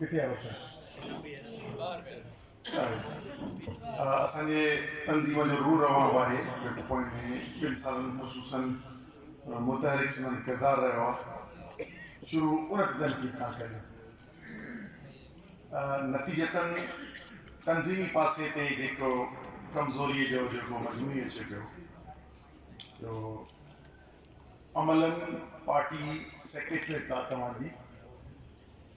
ڪٿي آ بچا. اسان جي تنظيم جو روح روان به آهي گهٽ پوين ٻن سالن خصوصا متحرڪ سندن ڪردار رهيو آ شروع ان تنقيد کان ڪريون نتيجتا تنظيمي پاسي تي جيڪو ڪمزوري جو جيڪو مجموعي اچي پيو جو عملا پارٽي سيڪريٽريٽ آ توهان جي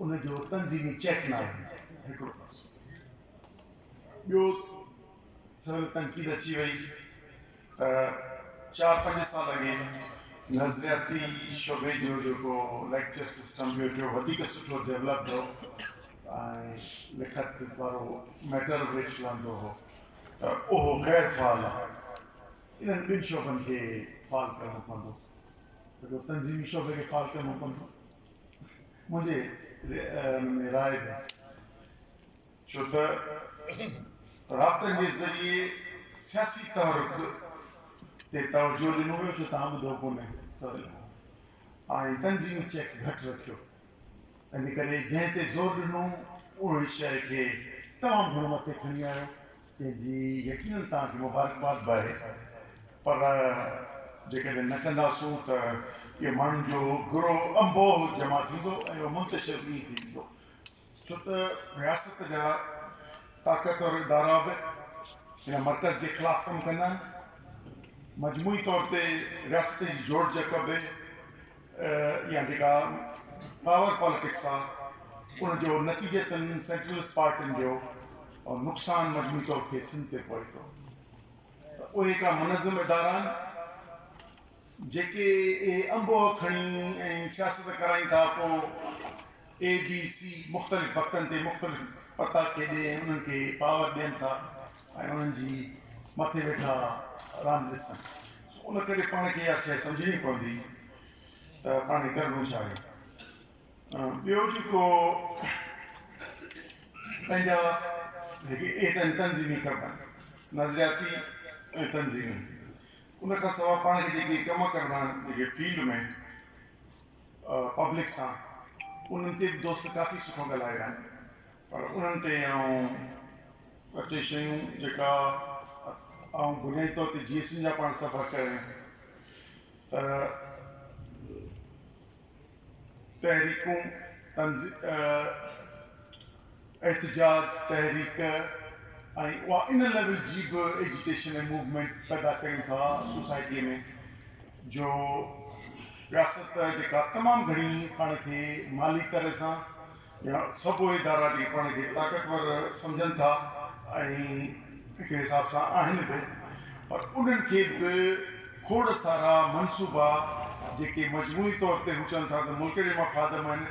ان جو تنظيمي چيڪ نه آيو هڪڙو پاسو ٻيو سويل تنقيد اچي وئي ته چار پنج سال اڳي نظرياتي شعبي جو جيڪو ليڪچر سسٽم ٻيو ٽيو وڌيڪ سٺو ڊيولپڊ هو ۽ لکت وارو ميٽر به کلندو هو ته اهو غير فعال آهي انهن ٻن شعبن کي فعال ڪرڻو پوندو هڪڙو تنظيمي شعبي کي فعال ڪرڻو پوندو منهنجي ان ۾ راء ڏيو ڇو ته رابطن جي ذريعي سياسي تحرڪ تي توجهه ڏنو ويو جو توهان ٻڌو ڪونهي سويل کان ۽ تنظيمي چيڪ گهٽ رکيو ان ڪري جنهن تي زور ڏنو انهي شيء کي تمام گهڻو مٿي کڻي آيو جنهن جي يقينن توهان کي مبارڪباد به آهي، پر جيڪڏهن نه ڪنداسون ته اهو ماڻهن جو گروهه انبوهه جمع ٿيندو ۽ اهو منتشر به ائين ٿي ويندو، ڇو ته رياست جا طاقتور ادارا به ان مرڪز جي خلاف ڪم ڪندا آهن، مجموعي طور تي رياست جي جوڙجڪ به. يا جيڪا پاور پاليٽڪس آ ان جو نتيجتن سينٽرلسٽ پارٽين جو نقصان مجموعي طور کي سنڌ تي پوي ٿو ته اهي هڪڙا منظم ادارا آهن جيڪي اهي انبوهه کڻي ۽ سياست ڪرائين ٿا پو اي بي سي مختلف وقتن تي مختلف پتا کيڏي ۽ انهن کي پاور ڏين ٿا ۽ انهن جي مٿي ويٺا راند ڏسن سو ان ڪري پاڻ کي اها شيء سمجهڻي پوندي ته پاڻ ڪرڻو ڇا آهي ٻيو جيڪو پنهنجا هڪ ايتن تنظيمي ڪم آهن نظرياتي ۽ تنظيمي ان کان سواء پاڻ کي جيڪي ڪم ڪرڻا آهن جيڪي فيلڊ ۾ پبلڪ سان انهن تي به دوست ڪافي سٺو ڳالهايو آهن پر انهن تي آئون ٻه ٽي شيون جيڪا آئون بنيادي طور تي جي ايس ٽين جا پاڻ سفر ڪرايون ته تحريڪون تنظ احتجاج تحريڪ ۽ اها ان ليول جي به ايجيٽيشن ۽ موومينٽ پيدا ڪريون ٿا سوسائٽيء ۾ جو رياست جيڪا تمام گهڻي پاڻ کي مالي طرح سان يا سڀ ادارا جيڪي پاڻ کي طاقتور سمجهن ٿا ۽ هڪڙي حساب سان آهن به پر انهن کي به کوڙ سارا منصوبا جيڪي مجموعي طور تي هو چون ٿا ته ملڪ جي مفاد ۾ آهن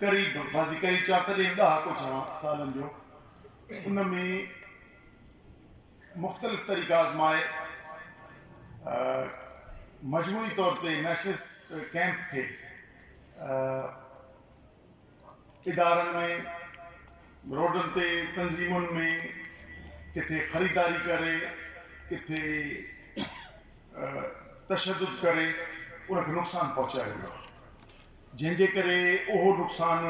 قريب بازي ڪئي چا تڏهن ڏهاڪو چوان سالن جو ان ۾ مختلف طريقا آزمائي مجموعي طور تي نيشنلسٽ ڪئمپ کي ادارن ۾ روڊن تي تنظيمن ۾ ڪٿي خريداري ڪري ڪٿي تشدد ڪري ان کي نقصان پهچايو ويو آهي. جنهن جي ڪري اهو نقصان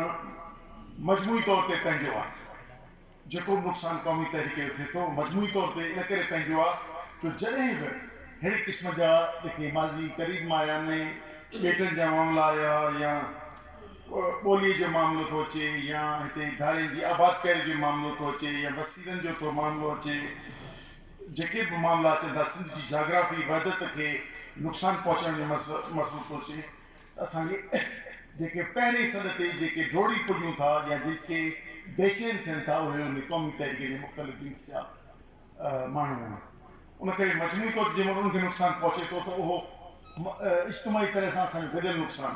مجموعي طور تي پنهنجو آهي. جيڪو به نقصان قومي تحريڪ جو ٿئي ٿو، مجموعي طور تي ان ڪري پنهنجو آهي جو جڏهن به ههڙي قسم جا جيڪي ماضي قريب مان آيا نئين ٻيٽن جا معاملا آيا يا ٻوليء جو معاملو ٿو اچي يا هتي ڌارين جي آبادڪاري جو معاملو ٿو اچي يا وسيلن جو ٿو معاملو اچي جيڪي به معاملا اچن ٿا سنڌ جي جاگرافي وحدت کي نقصان پهچڻ جو مسئلو ٿو اچي اسان کي جيڪي پهرين سڏ تي جيڪي ڊوڙي پڄون ٿا يا جيڪي بيچين ٿين ٿا اهي انهي قومي تحريڪ جي مختلف جنس جا ماڻهو آهن ان ڪري مجموعي طور تي جنهن مهل انهن کي نقصان پهچي ٿو ته اهو اجتماعي طرح سان اسان جو گڏيل نقصان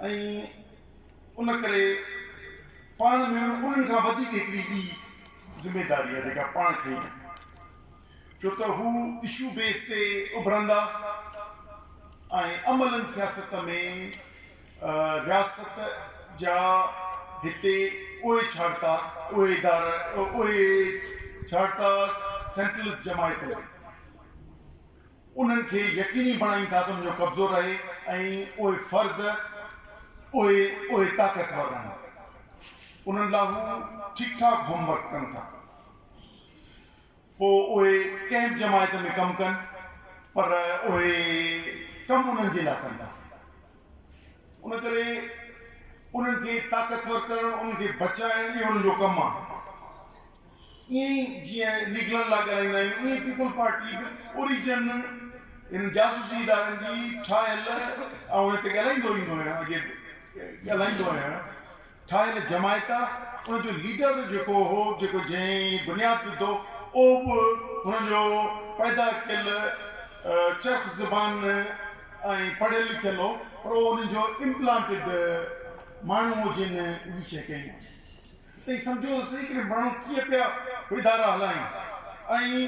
آهي ۽ ان ڪري پاڻ ۾ انهن کان وڌيڪ هڪڙي ٻي ذميداري آهي جيڪا پاڻ کڻي آهي. ڇو ته هو اشو بيس تي اڀرندا ۽ عملاً سياست ۾ رياست جا هتي اهي ڇاڙتا اهي ادارا اهي ڇاڙتا سينٽرلسٽ جماعتون انهن کي يقيني بڻائين ٿا ته ان جو قبضو رهي ۽ اهي فرد اهي اهي طاقتور رهن انهن لاء هو ٺيڪ ٺاڪ هوم ورڪ ڪن ٿا. پوء اهي ڪنهن به جماعت ۾ ڪم ڪن پر اهي ڪم انهن جي لاء ڪن ٿا. ان ڪري انهن کي طاقتور ڪرڻ، انهن کي بچائڻ اهو انهن جو ڪم آهي. ائين ئي جيئن ليگلن لاء ڳالهائيندا آهيون ائين ئي پيپلز پارٽي به اوريجن انهن جاسوسي ادارن جي ٺاهيل آهي ۽ هتي ڳالهائيندو ايندو آهيان اڳي به ڳالهائيندو آهيان. ٺاهيل جماعت آ، ان جو ليڊر جيڪو هو، جيڪو جنهن هي بنياد وڌو، اهو به هن جو پيدا ڪيل چرخ زبان ۽ پڙهيل لکيل هو، پر اهو انهن جو امپلانٽيڊ ماڻهو هو جنهن هي شيء ڪئي هئي. تئين سمجهو ته سهي ڪري ماڻهو ڪيئن پيا ادارا هلائين ۽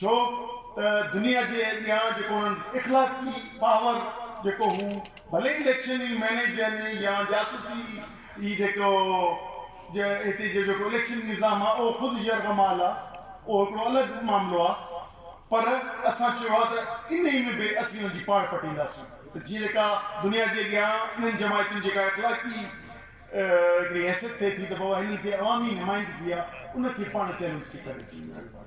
ڇو ته دنيا جي اڳيان جيڪو انهن اخلاقي پاور جيڪو هو ڀلي ئي اليڪشن ئي مينيج يعني يا جاسوسي ئي جيڪو هتي جو جيڪو اليڪشن نظام آ اهو خود يرغمال آ اهو هڪڙو الڳ معاملو آ پر اسان چيو آ ته انهي ۾ به اسين ان جي پاڙ پٽينداسين. ته جيئن جيڪا دنيا جي اڳيان انهن جماعتن جي جيڪا اخلاقي هڪڙي حيثيت ٿئي ٿي ته بابا هنن کي عوامي نمائندگي آ ان کي پاڻ چئلينج ٿي ڪري سگهون.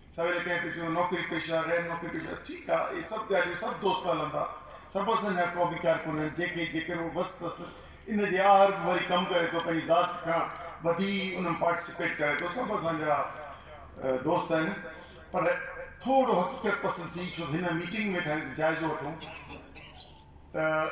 سويل ڪنهن کي چيو، نوڪري پيشه، غير نوڪري پيشه، ٺيڪ آ، اهي سڀ ڳالهيون سڀ دوست هلن ٿا. سڀ اسان جهڙا ڪو ويچار ڪونهن، جنهن کي جيڪر اهو وس تس، ان جي آهر به وري ڪم ڪري ٿو، پنهنجي ذات کان وڌي ان ۾ پارٽيسپيٽ ڪري ٿو، سڀ اسان جهڙا دوست آهن. پر ٿورو حقيقت پسند ٿي، ڇو ته هن ميٽنگ ۾ ويٺا آهيون ته جائزو وٺون ته.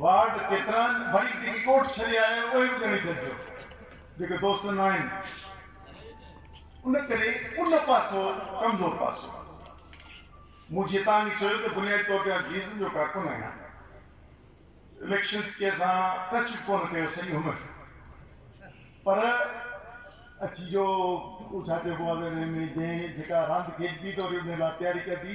وارڊ ڪيتران وري جيڪي ڳوٺ ڇڏي آيا آهيو اهي به ڳڻي ڇڏجو جيڪي دوست نه آهن ان ڪري ان پاسو ڪمزور پاسو آهي مون جيئن تان ئي چيو ته بنيادي طور تي آء بي ايس اين جو ڪارڪن آهيان اليڪشنز ڪي سان ٽچ به ڪونه ڪيو سڄي عمر پر اچي جو ڇا چئبو آهي ته ان ۾ جنهن جيڪا راند کيڏبي ته وري ان لاء تياري ڪبي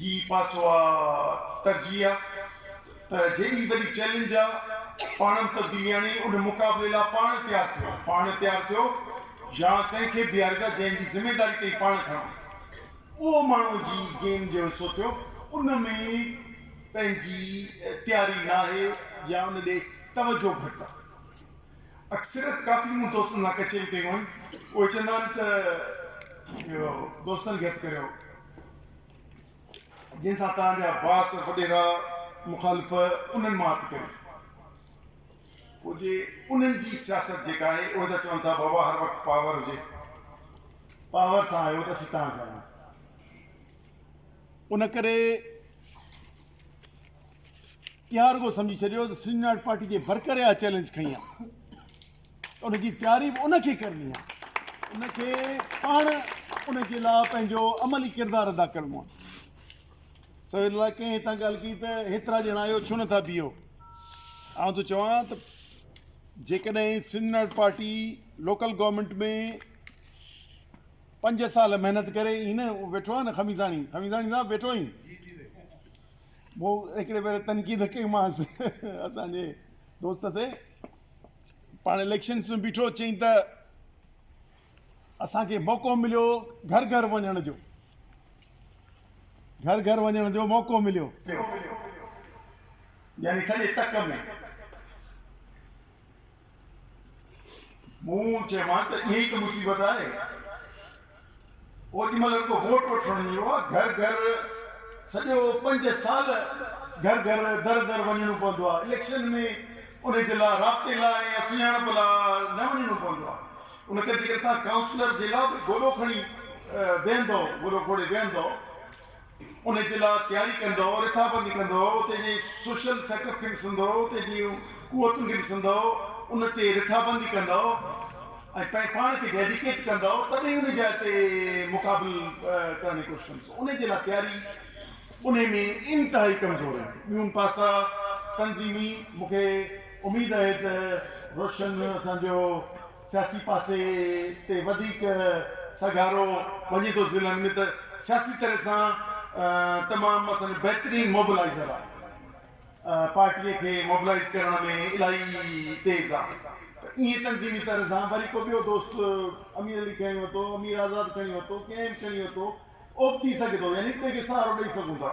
هي پاسو آ ترجيح آ ته جيڏي وڏي چئلينج آ پاڻم تبديلي آڻي ان مقابلي لا پاڻ تيار ٿيو پاڻ تيار ٿيو يا ڪنهن کي بيهاريندا جنهن جي ذميداري تئين پاڻ کڻو اهو ماڻهو جي گيم جو حصو ٿيو ان ۾ پنهنجي تياري ناهي يا ان ڏي توجهه گهٽ آ اڪثريت ڪافي مون دوستن سان ڪچهري ڪيون آهن اهي چوندا آهن ته اهو دوستن کي هٿ ڪريو جنهن سان توهان جا باس وڏيرا مخالف انهن مان هٿ ڪري پوء جي انهن جي سياست جيڪا آهي اهي ته چون ٿا بابا هر وقت پاور هجي پاور سان آيو ته اسين تان سان آهيون ان ڪري اها رڳو سمجهي ڇڏيو ته سنڌ يونائيٽ پارٽي جي برڪريا چئلينج کئي آهي ان جي تعريف ان کي ڪرڻي آهي. ان کي پاڻ ان جي لاء پنهنجو عملي ڪردار ادا ڪرڻو آهي. سوير الله ڪنهن هتان ڳالهه ڪئي ته هيترا ڄڻا آهيو ڇو نٿا بيهو. آئون ٿو چوان ته جيڪڏهن Sindh national party local government ۾ پنج سال محنت ڪري هي نه ويٺو آهي نه خميزاڻي خميزاڻي صاحب ويٺو آهين مون هڪڙي ڀيري تنقيد ڪئيمانس اسان جي دوست تي پاڻ اليڪشنس ۾ بيٺو چيائين ته اسان کي موقعو مليو گهر گهر وڃڻ جو گهر گهر وڃڻ جو موقعو مليو يعني سڄي تڪ ۾ مون چيمانس ته اها ئي ته مصيبت آهي اوڏي مھل رڳو ووٽ وٺڻ نه ايندو آھي گھر گھر سڄو پنج سال گھر گھر در در وڃڻو پوندو آھي اليڪشن ۾ انھي جي لا رابطي لا ۽ سڃاڻپ لا نه وڃڻو پوندو آھي ان ڪري جيڪڏھن توھان ڪائونسلر جي لا به گوڏو کڻي بيھندؤ گوڏو کوڙي بيھندؤ انهيء جي لاء تياري ڪندؤ، رٿابندي ڪندؤ، اتي جي سوشل سيٽ اپ کي ڏسندؤ، اتي جون قوتن کي ڏسندؤ، ان تي رٿابندي ڪندؤ ۽ پنهنجي پاڻ کي ڊيڊيڪيٽ ڪندؤ، تڏهن ئي انهيء جاء تي مقابل ڪرڻ جي ڪوشش ڪندؤ. انهيء جي لاء تياري انهيء ۾ انتهائي ڪمزور آهي. ٻيون پاسا تنظيمي، مون کي اميد آهي ته روشن اسان جو سياسي پاسي تي وڌيڪ سگهارو وڃي ٿو ضلعن ۾ ته سياسي طرح سان تمام مثلا بهترين موبلائيزر آ پارٽي کي موبلائيز ڪرڻ ۾ الاهي تيز آ ته ايئن تنظيمي طرح سان وري ڪو ٻيو دوست امير علي کڻي ورتو امير آزاد کڻي ورتو ڪنهن به کڻي ورتو اوبتي سگهي ٿو يعني هڪ ٻئي کي سهارو ڏئي سگهون ٿا.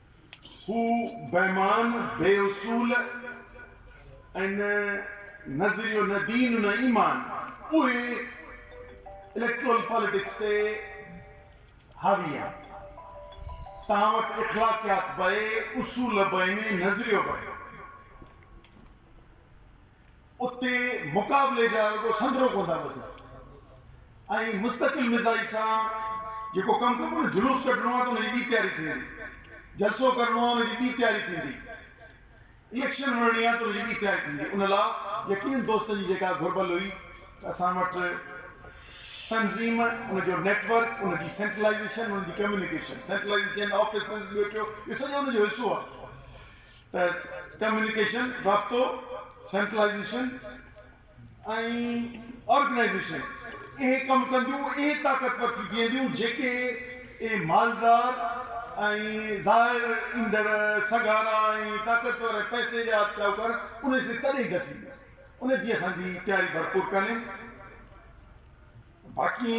هو بيمان، بي اصول ۽ نه نظريو نه دين نه ايمان اهي اليڪٽورل پاليٽڪس تي حاوي آهن. توهان وٽ اخلاقيات به اصول به نظريو به. اتي مقابلي جا رڳو سندرو ڪون ٿا ٻڌن ۽ مستقل مزاجي سان جيڪو ڪم ڪبو نه جلوس ڪڍڻو آهي ته ان جي ٻي تياري ٿيندي، جلسو ڪرڻو آهي ان جي ٻي تياري ٿيندي، اليڪشن وڙهڻي آهي ته ان جي ٻي تياري ٿيندي ان لا يقينن دوستن جي جيڪا گهربل هئي ته اسان وٽ تنظيم ان جو نيٽ ورڪ ان جي سينٽرلائيزيشن ان جي ڪميونيڪيشن سينٽرلائيزيشن آفيسز ٻيو ٽيو اهو سڄو ان جو حصو آهي. ته ڪميونيڪيشن، رابطو، سينٽرلائيزيشن ۽ آرگنائيزيشن اهي ڪم ڪنديون، اهي طاقتور ٿي بيهنديون جيڪي اهي مالدار ۽ ظاهر ايندڙ سگهارا ۽ طاقتور ۽ پئسي جا شاهوڪار انهي سين تڏهن گسي ان جي اسان جي تياري ڀرپور ڪانهي باقي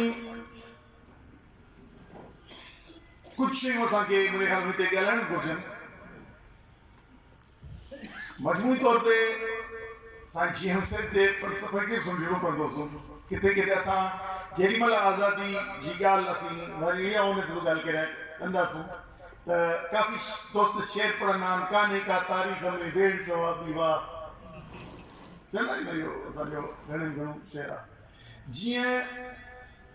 ڪجهه شيون اسان کي منهنجي خيال ۾ هتي ڳالهائڻ گهرجن. مجموعي طور تي سائين جي ايم سيد جي فلسفي کي به سمجهڻو پوندو سو ڪٿي ڪٿي اسان جيڏي مهل آزادي جي ڳالهه اسين وري اها ان تي به ڳالهه ڪري ڪنداسون ته ڪافي دوست شعر پڙهندا آهن ڪانهي ڪا تاريخ ۾ ويڙهه سوا ٻي واهه چوندا آهيون نه اهو اسان جو گهڻي ۾ گهڻو شعر آهي جيئن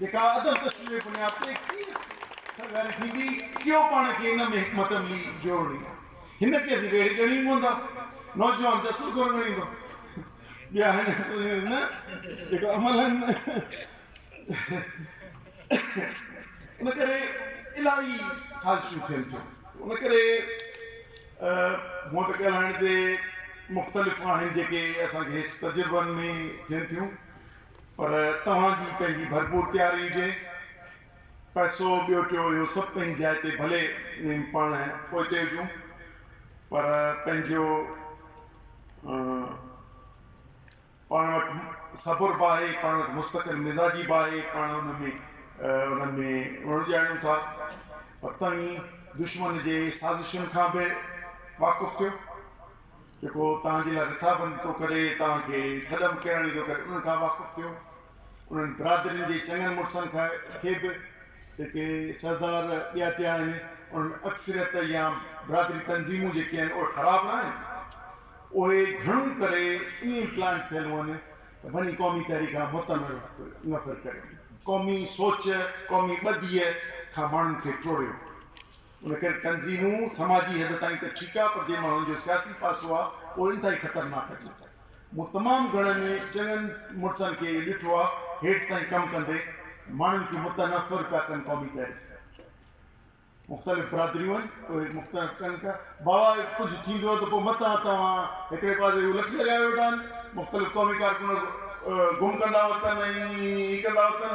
جيڪا ادب تشريح بنياد تي ڪيئن سرگاري ٿيندي، ڪيو پاڻ کي ان ۾ حڪمت عملي جوڙڻي آ، هن کي اسين ويڙهي ڳڻي پوندا، نوجوان ته اصول ڪونه ڳڻيندو، ٻيا هن اصول نه جيڪو عمل آهن نه، ان ڪري الاهي سازشون ٿين ٿيون، ان ڪري هونء ته ڳالهائڻ تي مختلف آهن جيڪي اسان کي هيٺ تجربن ۾ ٿين ٿيون. پر توهان جي پنهنجي ڀرپور تياري هجي. پئسو، ٻيو ٽيو اهو سڀ پنهنجي جاء تي ڀلي پاڻ پوئتي هجون پر پنهنجو پاڻ وٽ صبر به آهي، پاڻ وٽ مستقل مزاجي به آهي، پاڻ ان ۾ انهن ۾ رڙ ڄاڻيون ٿا پر توهين دشمن جي سازشن کان به واقف ٿيو. جيڪو توهان جي لاء رٿابندي ٿو ڪري، توهان کي ٿڏ ۾ ڪيرڻ ايندو ڪري انهن کان واقف ٿيو. انهن برادرين جي چڱن مڙسن کي به جيڪي سردار ڏياتي آهن، انهن ۾ اڪثريت يا برادري تنظيمون جيڪي آهن اهي خراب نه آهن. اهي گهڻو ڪري ائين پلانٽ ٿيل هئن ته بني قومي تحريڪ کان متنفر ڪريو، قومي سوچ، قومي ٻڌيء کان ماڻهن کي ٽوڙيو. ان ڪري تنظيمون سماجي حد تائين ته ٺيڪ آ پر جي مهل ان جو سياسي پاسو آ اهو انتهائي خطرناڪ هجي ٿو. مون تمام گهڻن ۾ چڱن مڙسن کي اهو ڏٺو آ هيٺ تائين ڪم ڪندي ماڻهن کي متنفر پيا ڪن قومي تحريڪ مختلف برادريون آهن اهي مختنف ڪن پيا باوا ڪجهه ٿيندو ته پوء متان توهان هڪڙي پاسي هو لٺ لڳائي ويٺا آهن مختلف قومي ڪارڪن گم ڪندا وتن ۽ هي ڪندا وتن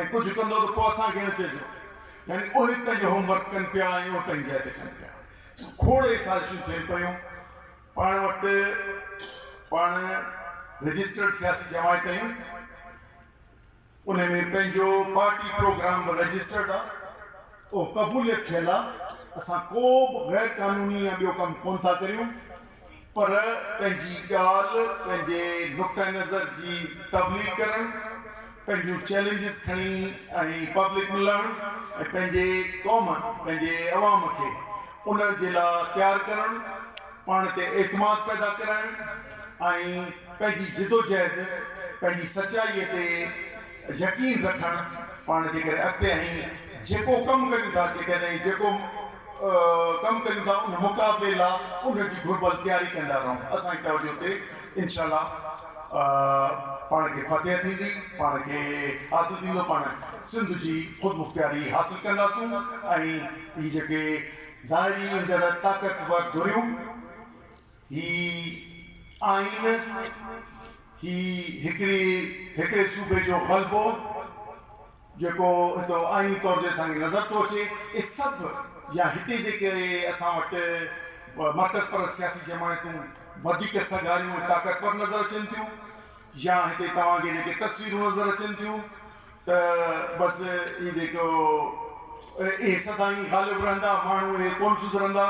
۽ ڪجهه ڪندو ته پوء اسان کي نه چئجو. يعني اهي پنهنجو هوم ورڪ ڪن پيا ۽ اهي پنهنجي جاء تي ڪن پيا. کوڙ سازشون ٿين پيون. پاڻ وٽ پاڻ رجسٽرڊ سياسي جماعت آهيون. ان ۾ پنهنجو پارٽي پروگرام به رجسٽرڊ آ. اهو قبوليت ٿيل آ. اسان ڪو به غير قانوني يا ٻيو ڪم ڪونه ٿا ڪريون. پر پنهنجي ڳالهه، پنهنجي نقطه نظر جي تبليغ ڪرڻ، پنهنجون چئلينجز کڻي ۽ پبلڪ ۾ لهڻ ۽ پنهنجي قوم، پنهنجي عوام کي ان جي لاء تيار ڪرڻ، پاڻ تي اعتماد پيدا ڪرائڻ ۽ پنهنجي جدوجهد، پنهنجي سچائيء تي يقين رکڻ پاڻ جيڪڏهن اڳتي ۽ جيڪو ڪم ڪريون ٿا، جيڪڏهن جيڪو. ڪم ڪريون ٿا ان مقابلي لا ان جي گهربل تياري ڪندا رهون اسان جي توجه تي انشاء الله پاڻ کي فتح ٿيندي پاڻ کي حاصل ٿيندو پاڻ سنڌ جي خودمختياري حاصل ڪنداسون ۽ هي جيڪي ظاهري اندر طاقتور ڌريون هي آئين هي هڪڙي هڪڙي صوبي جو غلبو جيڪو هتو آئيني طور تي اسان کي نظر ٿو اچي اهي سڀ يا هتي جيڪي اسان وٽ مرڪز پرست سياسي جماعتون وڌيڪ سگهاريون ۽ طاقتور نظر اچن ٿيون يا هتي توهان کي جيڪي تصويرون نظر اچن ٿيون ته بس اهي جيڪو اهي سدائين غالب رهندا، ماڻهو اهي ڪونه سڌرندا،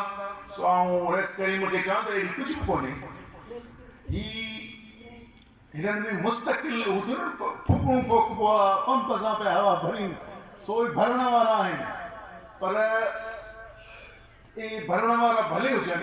سو آئون رئيس ڪريم کي چوان ته اهڙي ڪجهه به ڪونهي، هي هنن ۾ مستقل هو ٿيو نه ڦوڪڻون ڦوڪبو آ، پمپ سان پيا هوا ڀرين، سو اهي ڀرڻ وارا آهن، پر اهي ڀرڻ وارا ڀلي هجن،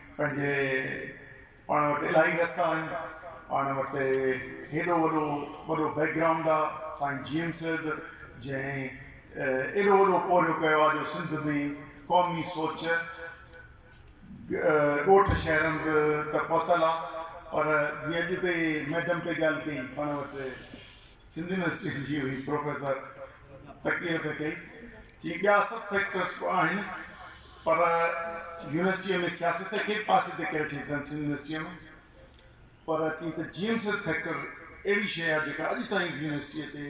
پنهنجي پاڻ وٽ الاهي رستا آهن، پاڻ وٽ هيڏو وڏو وڏو بيڪ گرائونڊ آ، سائين جي ايم سيد جنهن ايڏو وڏو پورهيو ڪيو آ جو سنڌ ۾ قومي سوچ ڳوٺ شهرن به ته پهتل آ پر جيئن اڄ اتي ميڊم پئي ڳالهه ڪئي پاڻ وٽ سنڌ يونيورسٽي جي هئي پروفيسر تقرير پئي ڪئي چي ٻيا سڀ فيڪٽرس به آهن. پر يونيورسٽيء ۾ سياست کي به پاسي تي ڪري رکي اٿن سنڌ يونيورسٽيء ۾ پر ڪي ته جي ايم سيد فيڪٽر اهڙي شيء آهي جيڪا اڄ تائين به يونيورسٽيء تي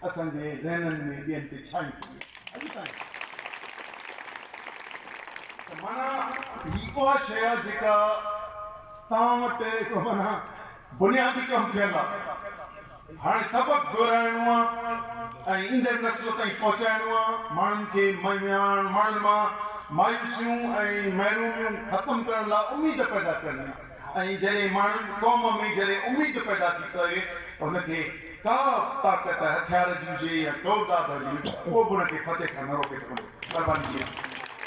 اسان جي ذهنن ۾ ٻين تي ڇانئي پئي آهي اڄ تائين ته معنيٰ هي اها شيء آهي جيڪا توهان وٽ هڪڙو معنيٰ بنيادي ڪم ٿيل آهي. هاڻي سبق دهرائڻو آ ۽ ايندڙ نسل تائين پهچائڻو آ. ماڻهن کي مياڻ ماڻهن مان مايوسيون ۽ محروميون ختم ڪرڻ لاء اميد پيدا ڪرڻي آ ۽ جڏهن ماڻهن، قوم ۾ جڏهن اميد پيدا ٿي ته ان کي ڪا به طاقت هٿيار جي هجي يا ڪوڙ ڏاڍ هجي، ڪو به ان کي فتح کان نه روڪي سگهندو. مهرباني جي آسان.